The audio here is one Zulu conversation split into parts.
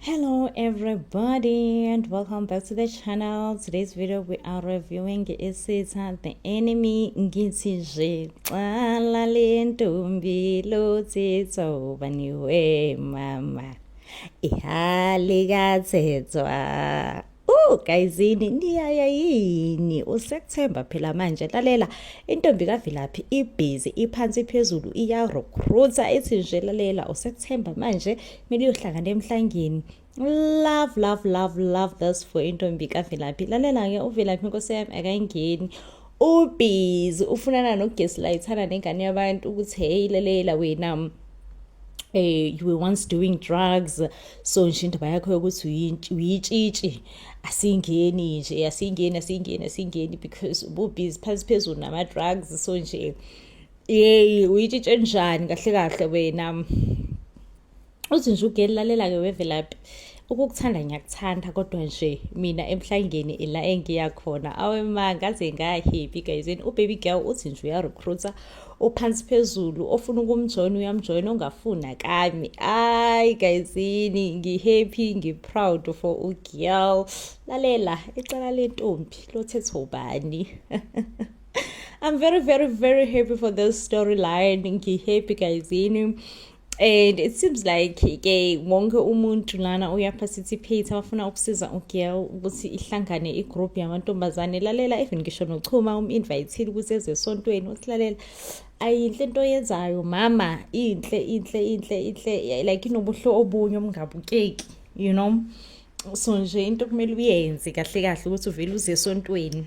hello everybody and welcome back to the channel today's video we are reviewing isitha the enemy ngithi nje xala le ntombi lothitho baniwe mama ihali kathethwa Oh gayizini niyaya yini usekuthemba phela manje lalela intombi kaVilaphi ibhizi iphansi phezulu iya recruiter ithi nje lalela usekuthemba manje mele uyohlangana emhlangeni love love love love this for intombi kaVilaphi lalela ke uVilaphi inkosi yami akayingeni ubhizi ufunana nokugeslayithana nengane yabantu ukuthi heyi lelela wena um you were once doing drugs so nje indaba yakho yokuthi uyitshitshi asingeni nje asingeni asingeni asingeni because ububhizi phansi phezulu nama-drugs so nje yeyi uyitshitshe njani kahle kahle wena uthi nje ugeli lalela-ke wevelaphi ukukuthanda ngiyakuthanda kodwa nje mina emhlangeni ila engiya khona awema ngaze ngahappy guyzini ubaby girl uthi nje uyarecruiter ophansi phezulu ofuna ukumjoyina uyamjoyina ongafuni akami ayi guyzini ngihappy ngiproud for ugirl lalela icala lentombi lothethwa ubani I'm very very very happy for this storyline ngihappy guyzini and it seems like ke wonke umuntu lana uyaparticipate abafuna ukusiza ugirl ukuthi ihlangane igroup yamantombazane lalela even ngisho nochuma um-invayithile ukuthi eze esontweni usilalela ayinhle into oyenzayo mama inhle inhle inhle inhle like inobuhle obunye obungabukeki you know so nje into kumele uyenze kahle kahle ukuthi uvele uze esontweni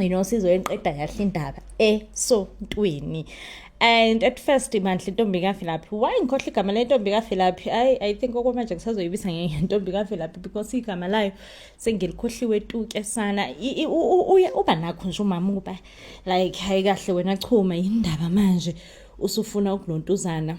inosizo enqeda kahle indaba esontweni and at first mandla intombi kavelaphi why ngikhohle igama lentombi kavelaphi i i think okwamanje ngisazoyibisa ngentombi kavelaphi because igama layo sengilikhohliwe tuke sana uba nakho nje umama ukuba like hayi kahle wena chuma yindaba manje usufuna ukulontuzana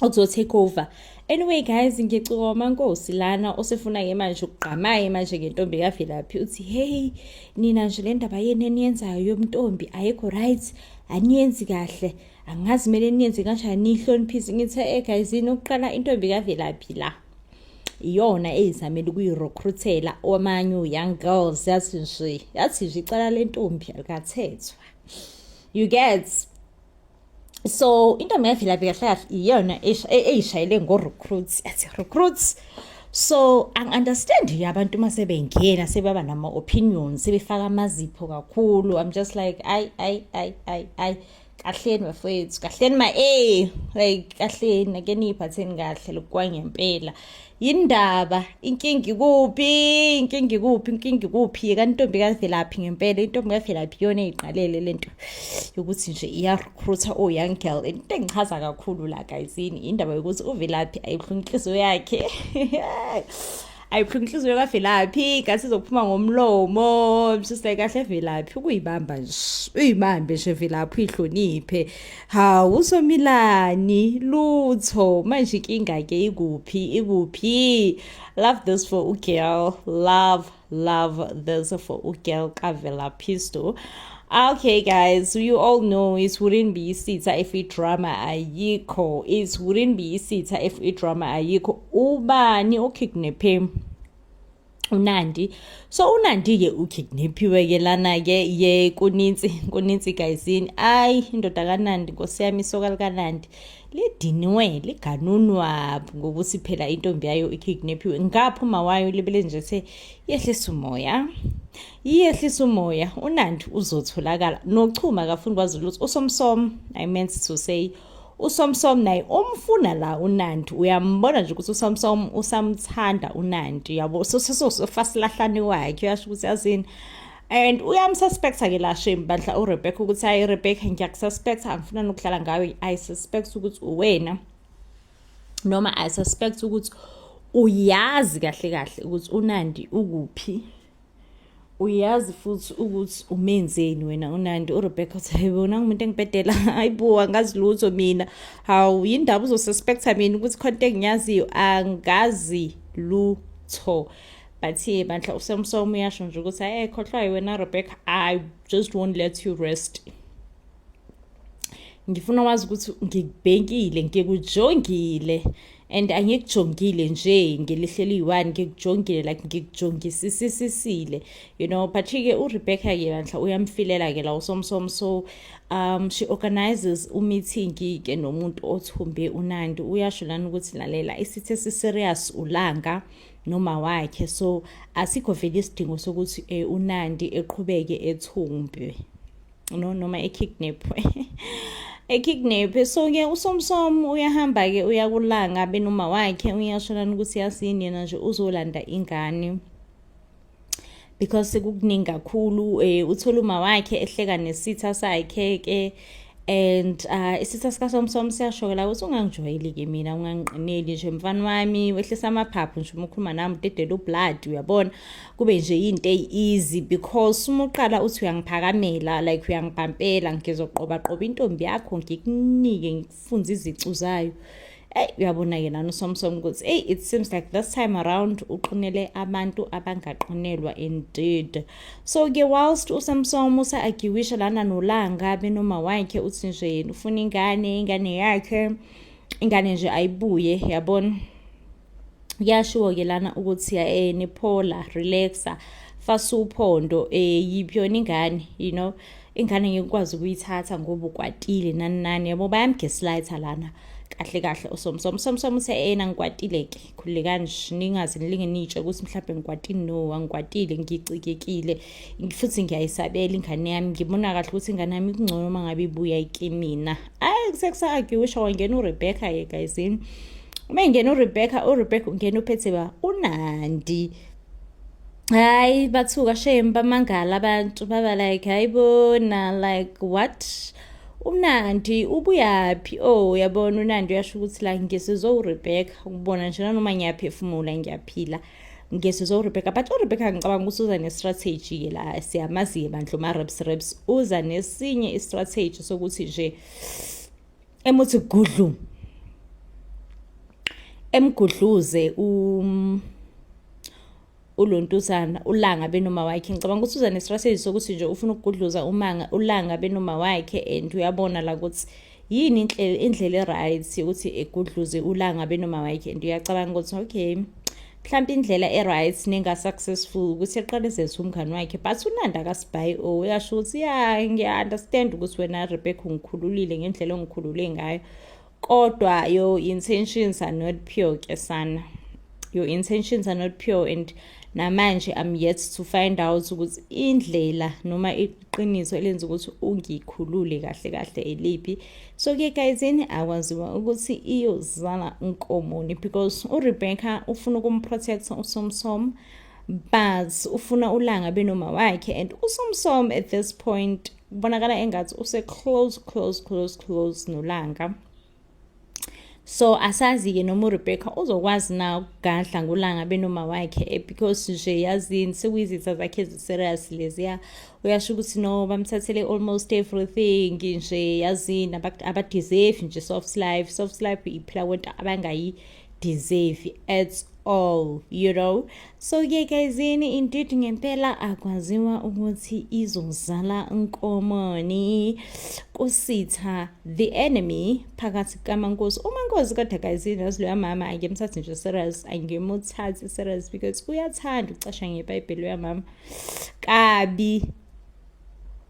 okuzo take over anyway guys ngicoma nkosi lana osefuna ke manje ukugqamaye manje ngentombi kavelaphi uthi hey nina nje le ndaba yenu eniyenzayo yomntombi ayikho right aniyenzi kahle angazi kumele niyenze kanjani niyihloniphise ngithe e guys yini ukuqala intombi kavelaphi la iyona eyizamele ukuyirecruitela omanyu young girls yathi nje yathi nje icala lentombi alikathethwa you get so into mina vilaphi kahle kahle iyona eyishayele ngo-recruits athi recruits so angi-understand nje abantu uma sebengena sebaba nama-opinion sebefaka amazipho kakhulu i'm just like ayi ayi ayi ayi ayi kahleni bafowethu kahleni ma-a like kahleni ake niyiphatheni kahle lokukwangempela yindaba inkinga ikuphi inkinga ikuphi inkinga ikuphi yeka intombi kavelaphi ngempela intombi kavelaphi iyona eyiqalele le nto yokuthi nje iyarecruita o-young girl into engichaza kakhulu la gayizini yindaba yokuthi uvelaphi ayibuhlungu inhliziyo yakhe ayibuhlungu inhliziyo kavelaphi ngathi izophuma ngomlomo msise kahle velaphi ukuyibamba nje uyibambe nje velaphi uyihloniphe Hawu usomilani lutho manje inkinga ke ikuphi ikuphi love this for u girl love love this for u girl kavela pistol Okay, guys, you all know it wouldn't be isitha if it drama ayikho. It wouldn't be isitha if it drama ayikho. Ubani okidnaphe? unandi so unandi ke ukidnaphiwe ke lana ke ye kunintsi kunintsi guyisini ayi indoda kanandi nkosi yami isoka likanandi lidinwe liganunwa ngokuthi phela intombi yayo ikidnaphiwe ngapho mawayo libele nje se yehlisa umoya iyehlisa umoya unandi uzotholakala nochuma kafuni kwazi lutho usomsom i meant to say usomsom naye umfuna la unandi uyambona nje ukuthi usomsom usamthanda unandi yabo sosofasilahlane wakhe uyasho ukuthi yazini and uyamsuspecta ke la shame bandla urebecca ukuthi hayi rebecca ngiyakususpecta angifuna nokudlala ngayo i suspect ukuthi uwena noma i suspect ukuthi uyazi kahle kahle ukuthi unandi ukuphi uyazi futhi ukuthi umenzeni wena unandi urebecca uthi hayi bona ngumuntu engibhedela hayi bo angazi lutho mina hawu yindaba uzosuspektha mina ukuthi khonto engiyaziyo angazi lutho but ye bandla usemsomo uyasho nje ukuthi hayi ekhohlwayo wena rebecca i just won't let you rest ngifuna wazi ukuthi ngikubhekile ngikujongile and angikujongile nje ngelihleli yi-one ngikujongile like ngikujongisisisisile you know but-ke urebecca ke bandla uyamfilela-ke la usomsom so um she organizes umeeting-ke nomuntu othumbe unandi uyasho lani ukuthi lalela isithe si-serious ulanga noma wakhe so asikho vele isidingo sokuthi um unandi eqhubeke ethumbe no noma ekidnapwe ekidnapwe so-ke usomsom uyahamba-ke uyakulanga benoma wakhe uyasholana ukuthi yasini yena nje uzolanda ingane because sekukuningi kakhulu um uthole uma wakhe ehleka nesitha sakhe-ke and uh, isitha sikasomsom siyashokela ukuthi ungangijwayeli-ke mina ungangiqineli nje mfana wami wehlisa amaphaphu nje uma ukhuluma nami udedela ublood uyabona kube nje into easy because uma uqala uthi uyangiphakamela like uyangibhampela ngizoqoba qoba intombi yakho ngikunike ngikufunze izicu zayo eyi uyabona-ke nani usomsom ukuthi eyi it seems like this time around uqinele abantu abangaqinelwa indeed so-ke whilst usamsom usa-agiwisha lana nolanga benoma wakhe uthi nje yena ufuna ingane ingane yakhe ingane nje ayibuye yabona kuyashiwo ke lana ukuthi eh niphola relaxa fasa uphondo eh yiphi yona ingane you know ingane ngikwazi ukuyithatha ngoba ukwatile nani nani yabo bayamgeslighter lana kahle kahle usomsomo usomsomo uthe ena ngikwatile ke khulekani ningaze nilinge nitshe ukuthi mhlawumbe ngikwatini no angikwatile ngicikekile futhi ngiyayisabela ingane yami ngibona kahle ukuthi ingane yami kungcono uma ngabe ibuya ikimina ayi kusekusaarguisha wangena urebecca ke gayizini uma ingena urebecca urebecca ungena uphethe ba unandi hayi bathuka shame bamangala abantu baba like hayi bona like what umnandi ubuyaphi o oh, yabona unandi uyasho ukuthi la ngisizwe urebecca ukubona nje nanoma ngiyaphefumula ngiyaphila ngiyezizwa urebecca but urebecca ngicabanga ukuthi uza ne-strategy-ke la siyamazi-ke bandla uma-raps raps uza nesinye i-strategy sokuthi nje emuthi gudlu emgudluze um ulontuzana ulanga benoma wakhe ngicabanga ukuthi uza ne-strategy sokuthi nje ufuna ukugudluza umanga ulanga benoma wakhe and uyabona la ukuthi yini inhlelo indlela eright ukuthi egudluze ulanga benoma wakhe and uyacabanga ukuthi okay mhlawumbe indlela e-right nenga-successful ukuthi eqalezelise umngani wakhe but unanda kasibhayi o oh, uyasho ukuthi ya ngiya-understand ukuthi wena rebecca ungikhululile ngendlela ongikhulule ngayo kodwa your intentions are not pure ke sana your intentions are not pure and namanje i'm yet to find out ukuthi indlela noma iqiniso elenza ukuthi ungikhulule kahle kahle eliphi so ke gayizini akwaziwa ukuthi iyozala nkomoni because urebecca ufuna ukumprotecta usomsom but ufuna ulanga benoma wakhe and usomsom at this point kubonakala engathi use close close close close nolanga so asazi-ke noma urebecca uzokwazi na ukugadla ngolanga benoma wakhe eh, because nje yazini sekuyizitha zakhe eziserious leziya uyasho ukuthi no bamthathele almost everything nje yazini abadeserve nje soft life soft life iphila kwento abangayi deserve at all you know so ke guys yini indeed ngempela akwaziwa ukuthi izozala nkomoni kusitha the enemy phakathi kamankosi umankosi kodwa guys yazi loya mama angimthathi nje serious angimuthathi serious because uyathanda ukucasha ngebhayibheli loya mama kabi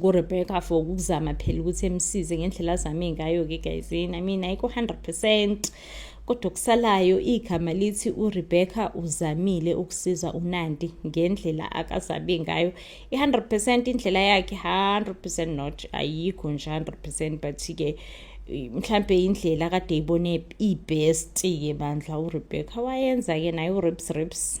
kuRebecca for ukuzama phela ukuthi emsize ngendlela azame ngayo-ke guys yini i mean ayikho 100 percent kodwa okusalayo igama lithi uRebecca uzamile ukusiza uNandi ngendlela akazabe ngayo i100% indlela yakhe 100% not ayikho nje 100% but ke mhlambe indlela kade ibone ibest ke bandla uRebecca wayenza ke nayo uRips Rips